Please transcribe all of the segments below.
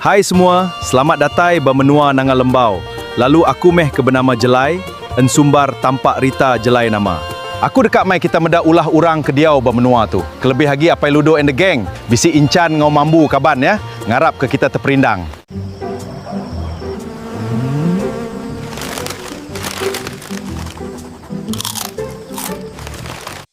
Hai semua, selamat datai ba menua Nanga Lembau, lalu aku meh ke benama Jelai, ensumbar tampak Rita Jelai nama. Aku deka mai kita meda ulah urang ke diau ba menua tu, kelebih agi Apai Ludo and the gang, bisi Inchan enggau Mambu kaban ya, ngarap ke kita teperindang.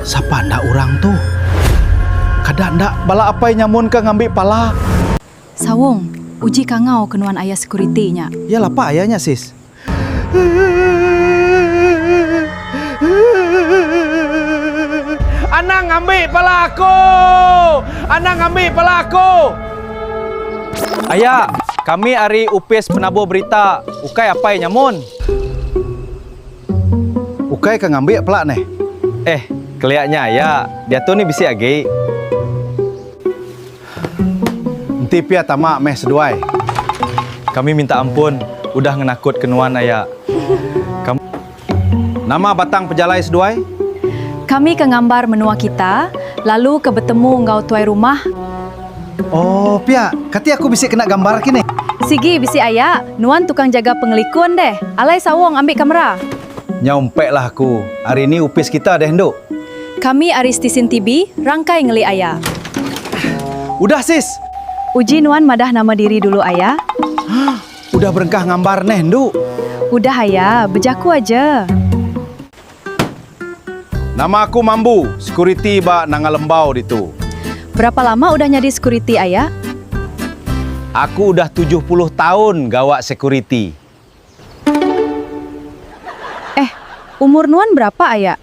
Sapa enda orang tu? Kada enda bala apai nyamun ka ngambi pala. Sawong, uji ka ngau ke nuan aya security nya. Iya lapa aya nya sis. Anang ngambi pala aku! Anang ngambi pala aku! Aya, kami ari opis penabur berita, ukai apai nyamun. Ukai ka ngambik pela neh. Eh, kelia nya aya, diatu ni bisi agi. Enti pia tama meh seduai. Kami minta ampun udah ngenakut ke nuan aya. Kami. Nama batang pejalai seduai? Kami ke ngambar menua kita, lalu ke betemu enggau tuai rumah. Oh, pia. Kati aku bisi kena gambar kini? Sigi bisi aya. Nuan tukang jaga pengelikun deh. Alai Sawong ambi kamera. Nyau empek lah aku. Ari ni opis kita deh endu. Kami ari stesen TV, rangkai ngeli aya. Udah sis. Uji nuan madah nama diri dulu aya. Udah berengkah ngambar neh endu. Udah aya, bejaku aja. Nama aku Mambu, sekuriti ba Nanga Lembau ditu. Berapa lama udah nyadi sekuriti aya? Aku udah tujuh puluh taun gawa sekuriti. Eh, umur nuan berapa aya?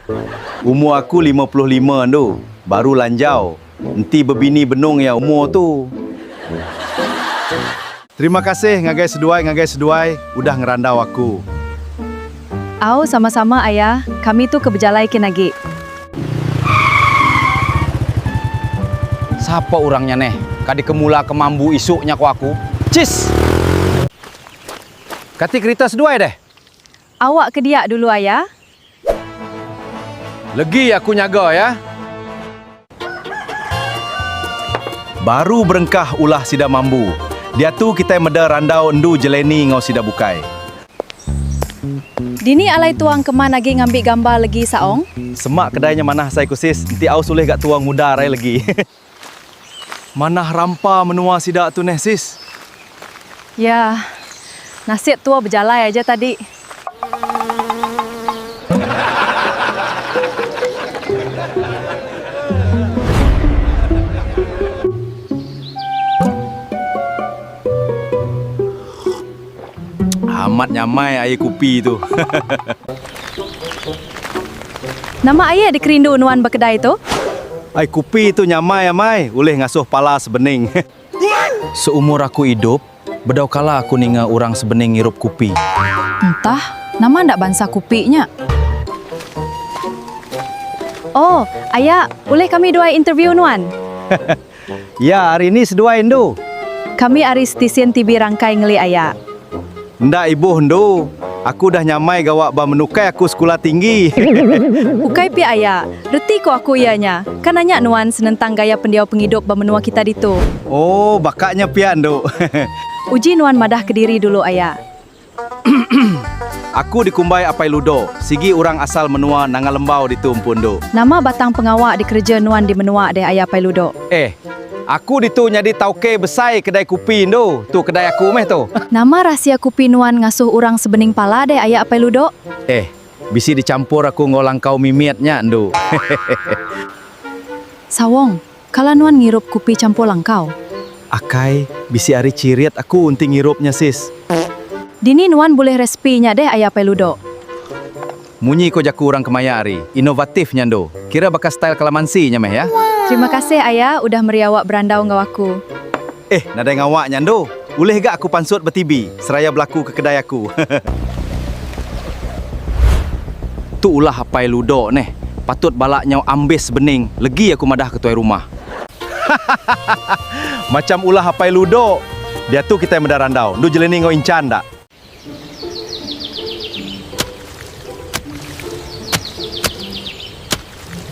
Umur aku lima puluh lima andu, baru lanjau. Enti bebini benung iya umur tu. Terima kasih ngagai seduai ngagai seduai udah ngerandau aku. Au sama sama aya kami tu ke bejalai kin agi. Sapa urang nya neh ka di kemula ke mambu isuk nya ko aku. Cheese. Kati kerita seduai deh. Awak ke dia dulu ayah. Legi aku nyaga ya. Baru berengkah ulah sida mambu. Diatu kitai meda randau endu jeleni enggau sida bukai. Dini alai tuang keman agi ngambi gambar legi Saong? Semak kedai nya manah asai ku sis, enti aus ulih ga tuang mudar ai legi. Manah rampa menua sida tu neh sis. Ya. Nasib tua bejalai aja tadi. Amat nyamai air kupi tu. Nama air dikerindu nuan ba kedai tu? Air kupi tu nyamai amai, ulih ngasuh pala sebening. Seumur aku idup, bedau kala aku ninga urang sebening ngirup kupi. Entah, nama enda bansa kupi nya? Oh, aya, ulih kami duai interview nuan? Ya ari ni seduai endu. Kami ari Stesyen TV Rangkai Ngeli Aya. Enda ibuh endu. Aku udah nyamai gawa ba menukai aku sekula tinggi. Ukai pia aya. Reti ko aku iya nya. Ka nanya nuan senentang gaya pendiau pengidup ba menua kita ditu. Oh baka nya pia endu. Uji nuan madah kediri dulu aya. Aku dikumbai Apai Ludo. Sigi urang asal menua Nanga Lembau ditu empu endu. Nama batang pengawa dikereja nuan di menua deh aya Apai Ludo? Eh. Aku ditu nyadi tauke besai kedai kupi endu. Tu kedai aku meh tu. Nama rahsia kupi nuan ngasuh urang sebening pala deh aya Apai Ludo? Eh. Bisi dichampur aku enggau langkau mimit nya endu. Sawong. Kala nuan ngirup kupi campur langkau. Akai, bisi ari cirit aku enti ngirup nya sis. Dini nuan bulih resipi nya deh aya apai ludok. Munyi ko jaku urang kemaya ari, inovatif nya endu. Kira baka style kalamansi nya meh ya. Terima kasih aya udah meri awak berandau enggau aku. Eh, nadai ngawa nya endu. Ulih ga aku pansut ba TV seraya belaku ke kedai aku. Tu ulah apai ludo neh. Patut bala nyau ambis bening legi aku madah ke tuai rumah. Hahahaha. Macham ulah apai ludo. Diatu kitai meda randau. Endu jelini enggau incan da.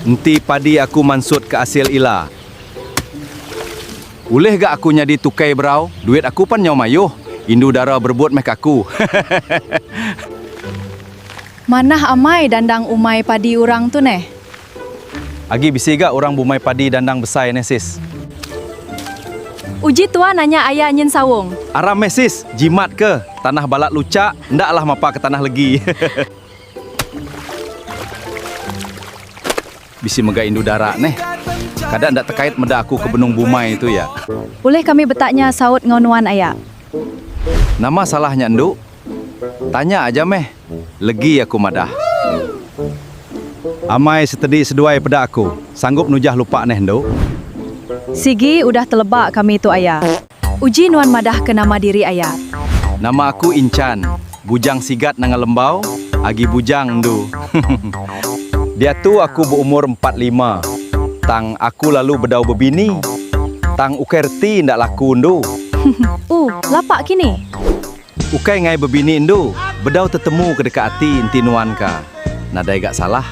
Enti padi aku mansut ke asil ila. Ulih ga aku nyadi tukai berau, duit aku pan nyau mayuh, indu dara berebut meh ke aku. Hehehe. Manah amai dandang umai padi urang tu neh. Agi bisi ga urang bumai padi dandang besai neh sis. Uji tua nanya aya nyin saung. Aram meh sis, jimat ke, tanah balat luchak, enda alah mapa ke tanah legi. Bisi mega indu dara neh. Kada enda tekait meda aku ke benung bumai tu ya. Ulih kami betanya saut enggau nuan aya. Nama salah nya endu, Tanya aja meh, legi aku madah. Amai setedi seduai peda aku, sanggup nujah lupa neh endu. Sigi udah teleba kami tu aya. Uji nuan madah ke nama diri aya. Nama aku Inchan, bujang sigat nanga lembau, agi bujang endu. Diatu aku beumur empat lima, tang aku lalu bedau bebini, tang ukai reti enda laku endu. Uh, lapa kini. Ukai ngai bebini endu, bedau tetemu ke deka ati enti nuan ka. Nadai ga salah.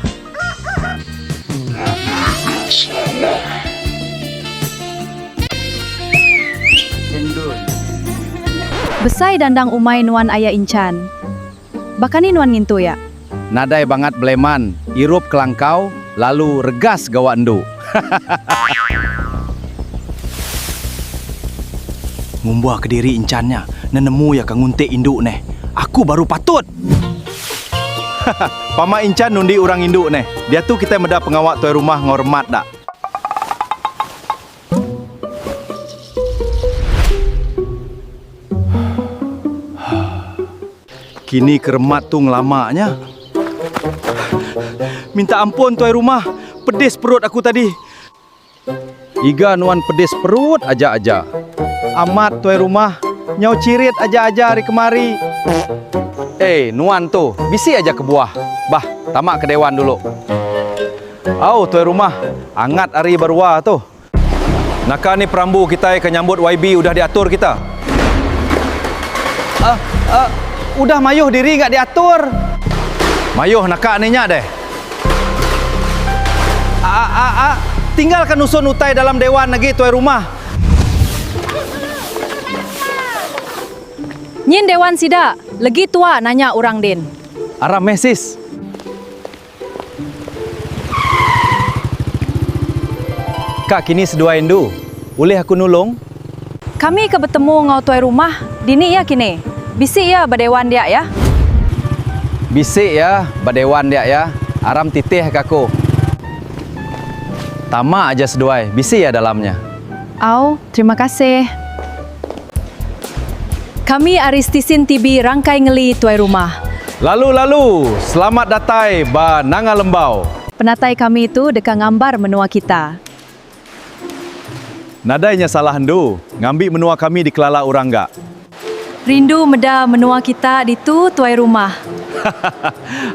Besai dandang umai nuan aya inchan. Bakani nuan ngintu ya. Nadai bangat beleman, irup kelangkau, lalu regas gawa endu. Ngumba kediri encan nya, nenemu iya ka nguntik indu neh. Aku baru patut! Pama incan nundi urang indu neh. Diatu kitai meda pengawa tuai rumah enggau remat da. Kini keremat tu ngelama nya. Minta ampun tuai rumah, pedis perut aku tadi. Iga nuan pedis perut aja-aja. Amat tuai rumah, nyau chirit aja-aja ari kemari. Ei, nuan tu, bisi aja kebuah. Bah, tama ke dewan dulu. Au tuai rumah, angat ari barua tu. Naka ni perambu kitai ke nyambut YB udah diatur kita? Uh, uh, udah mayuh diri ga diatur. Mayuh naka ni nya deh. Uh, uh, uh, uh, tinggal ka nusun utai dalam dewan agi tuai rumah. Nyin dewan sida, legi tua nanya urang din. Aram meh sis. Ka kini seduai endu. Ulih aku nulung? Kami ke betemu enggau tuai rumah dini iya kini. Bisi iya ba dewan dia iya. Bisi iya ba dewan dia iya. Aram titih ka aku. Tama aja seduai. Bisi iya dalam nya. Au, terima kasih. Kami ari Stesen TV Rangkai Ngeli Tuai Rumah. Lalu lalu, selamat datai ba Nanga Lembau. Penatai kami tu deka ngambar menua kita. Nadai nya salah endu, ngambi menua kami dikelala urang ga. Rindu meda menua kita ditu tuai rumah.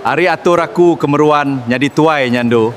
Ari atur aku ke meruan nyadi tuai nya endu.